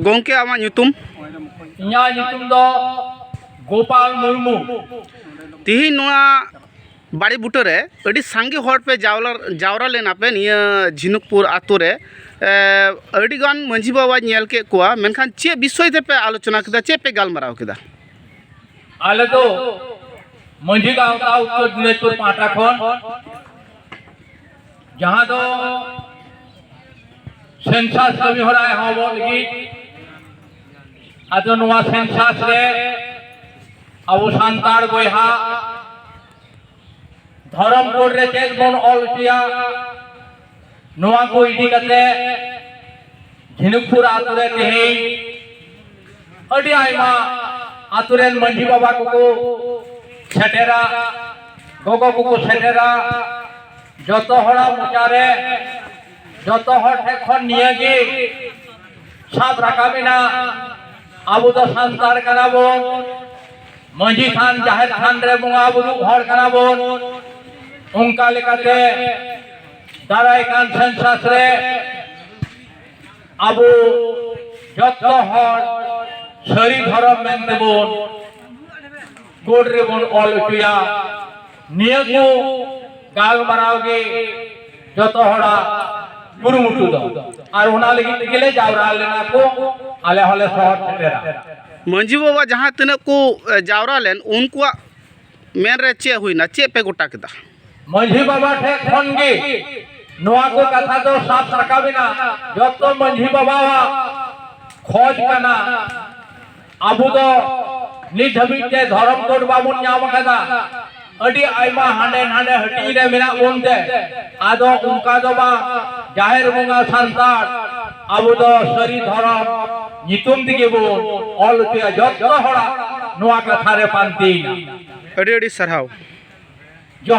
ᱜᱚᱝᱠᱮ ᱟᱢᱟᱜ ᱧᱩᱛᱩᱢ ᱤᱧᱟᱹᱜ ᱧᱩᱛᱩᱢ ᱫᱚ ᱜᱳᱯᱟᱞ ᱢᱩᱨᱢᱩ ᱛᱤᱦᱤᱧ ᱱᱚᱣᱟ ᱵᱟᱲᱮ ᱵᱩᱴᱟᱹ ᱨᱮ ᱟᱹᱰᱤ ᱥᱟᱸᱜᱮ ᱦᱚᱲ ᱯᱮ ᱡᱟᱣᱨᱟ ᱡᱟᱣᱨᱟ ᱞᱮᱱᱟ ᱯᱮ ᱱᱤᱭᱟᱹ ᱡᱷᱤᱱᱩᱠᱯᱩᱨ ᱟᱛᱳ ᱨᱮ ᱟᱹᱰᱤ ᱜᱟᱱ ᱢᱟᱺᱡᱷᱤ ᱵᱟᱵᱟᱧ ᱧᱮᱞ ᱠᱮᱫ ᱠᱚᱣᱟ ᱢᱮᱱᱠᱷᱟᱱ ᱪᱮᱫ ᱵᱤᱥᱚᱭ ᱛᱮᱯᱮ ᱟᱞᱳᱪᱚᱱᱟ ᱠᱮᱫᱟ ᱪᱮᱫ ᱯᱮ ᱜᱟᱞᱢᱟᱨᱟᱣ ᱠᱮᱫᱟ ᱟᱞᱮ ᱫᱚ ᱢᱟᱺᱡᱷᱤ ᱜᱟᱶᱛᱟ ᱩᱛᱛᱚᱨ ᱫᱤᱱᱟᱡᱽᱯᱩᱨ ᱯᱟᱦᱴᱟ ᱠᱷᱚᱱ ᱡᱟᱦᱟᱸ ᱫᱚ ᱥᱮᱱᱥᱟᱥ ᱠᱟᱹᱢᱤ ᱦᱚᱨᱟ ᱮᱦᱚᱵᱚᱜ ᱞᱟᱹᱜᱤᱫ ᱟᱫᱚ ᱱᱚᱣᱟ ᱥᱮᱱᱥᱟᱥ ᱨᱮ ᱟᱵᱚ ᱥᱟᱱᱛᱟᱲ ᱵᱚᱭᱦᱟ ᱫᱷᱚᱨᱚᱢ ᱠᱳᱰ ᱨᱮ ᱪᱮᱫ ᱵᱚᱱ ᱚᱞ ᱦᱚᱪᱚᱭᱟ ᱱᱚᱣᱟ ᱠᱚ ᱤᱫᱤ ᱠᱟᱛᱮ ᱡᱷᱤᱱᱩᱠᱯᱩᱨ ᱟᱛᱳ ᱨᱮ ᱛᱮᱦᱮᱧ ᱟᱹᱰᱤ ᱟᱭᱢᱟ ᱟᱛᱳ ᱨᱮᱱ ᱢᱟᱺᱡᱷᱤ ᱵᱟᱵᱟ ᱠᱚᱠᱚ ᱥᱮᱴᱮᱨᱟ ᱜᱚᱜᱚ ᱠᱚᱠᱚ ᱥᱮᱴᱮᱨᱟ ᱡᱚᱛᱚ ᱦᱚᱲᱟᱜ ᱢᱚᱪᱟᱨᱮ ᱡᱚᱛᱚ ᱦᱚᱲ ᱴᱷᱮᱱ ᱠᱷᱚᱱ ᱱᱤᱭᱟᱹᱜᱮ ᱥᱟᱵ ᱨᱟᱠᱟᱵ ᱮᱱᱟ ᱟᱵᱚ ᱫᱚ ᱥᱟᱱᱛᱟᱲ ᱠᱟᱱᱟ ᱵᱚᱱ ᱢᱟᱺᱡᱷᱤ ᱛᱷᱟᱱ ᱡᱟᱦᱮᱨ ᱛᱷᱟᱱ ᱨᱮ ᱵᱚᱸᱜᱟ ᱵᱩᱨᱩ ᱦᱚᱲ ᱠᱟᱱᱟ ᱵᱚᱱ ᱚᱱᱠᱟ ᱞᱮᱠᱟᱛᱮ ᱫᱟᱨᱟᱭ ᱠᱟᱱ ᱥᱮᱱᱥᱟᱥ ᱨᱮ ᱟᱵᱚ ᱡᱚᱛᱚ ᱦᱚᱲ ᱥᱟᱹᱨᱤ ᱫᱷᱚᱨᱚᱢ ᱢᱮᱱᱛᱮ ᱵᱚᱱ ᱠᱳᱰ ᱨᱮᱵᱚᱱ ᱚᱞ ᱦᱚᱪᱚᱭᱟ ᱱᱤᱭᱟᱹ ᱠᱚ ᱜᱟᱞᱢᱟᱨᱟᱣ ᱜᱮ ᱡᱚᱛᱚ ᱦᱚᱲᱟᱜ ᱠᱩᱨᱩᱢᱩᱴᱩ ᱫᱚ ᱟᱨ ᱚᱱᱟ ᱞᱟᱹᱜᱤᱫ ᱛᱮᱜᱮ ᱞᱮ ᱡᱟᱣᱨᱟ ᱞᱮᱱᱟ ᱠᱚ ᱟᱞᱮ ᱦᱚᱸᱞᱮ ᱥᱚᱦᱚᱨ ᱥᱮᱴᱮᱨᱟ ᱢᱟᱺᱡᱷᱤ ᱵᱟᱵᱟ ᱡᱟᱦᱟᱸ ᱛᱤᱱᱟᱹᱜ ᱠᱚ ᱡᱟᱣᱨᱟ ᱞᱮᱱ ᱩᱱᱠᱩᱣᱟᱜ ᱢᱮᱱ ᱨᱮ ᱪᱮᱫ ᱦᱩᱭᱱᱟ ᱪᱮᱫ ᱯᱮ ᱜᱚᱴᱟ ᱠᱮᱫᱟ ᱢᱟᱹᱡᱷᱤ ᱵᱟᱵᱟ ᱴᱷᱮᱱ ᱠᱷᱚᱱ ᱜᱮ ᱱᱚᱣᱟ ᱠᱚ ᱠᱟᱛᱷᱟ ᱫᱚ ᱥᱟᱵ ᱨᱟᱠᱟᱵ ᱮᱱᱟ ᱡᱚᱛᱚ ᱢᱟᱹᱡᱷᱤ ᱵᱟᱵᱟᱣᱟᱜ ᱠᱷᱚᱡ ᱠᱟᱱᱟ ᱟᱵᱚ ᱫᱚ ᱱᱤᱛ ᱫᱷᱟᱹᱵᱤᱡ ᱛᱮ ᱫᱷᱚᱨᱚᱢ ᱠᱳᱰ ᱵᱟᱵᱚᱱ ᱧᱟᱢ ᱟᱠᱟᱫᱟ ᱟᱹᱰᱤ ᱟᱭᱢᱟ ᱦᱟᱸᱰᱮ ᱱᱟᱸᱰᱮ ᱦᱟᱹᱴᱤᱧ ᱨᱮ ᱢᱮᱱᱟᱜ ᱵᱚᱱ ᱛᱮ ᱟᱫᱚ ᱚᱱᱠᱟ ᱫᱚ ᱵᱟᱝ ᱡᱟᱦᱮᱨ ᱵᱚᱸᱜᱟ ᱥᱟᱱᱛᱟᱲ ᱟᱵᱚ ᱫᱚ ᱥᱟᱹᱨᱤ ᱫᱷᱚᱨᱚᱢ ᱧᱩᱛᱩᱢ ᱛᱮᱜᱮ ᱵᱚ ᱚᱞ ᱦᱚᱪᱚᱭᱟ ᱡᱚᱛᱚ ᱦᱚᱲᱟᱜ ᱱᱚᱣᱟ ᱠᱟᱛᱷᱟ ᱨᱮ ᱯᱟᱱᱛᱮᱭᱮᱱᱟ ᱟᱹᱰᱤ ᱟᱹᱰᱤ ᱥᱟᱨᱦᱟᱣ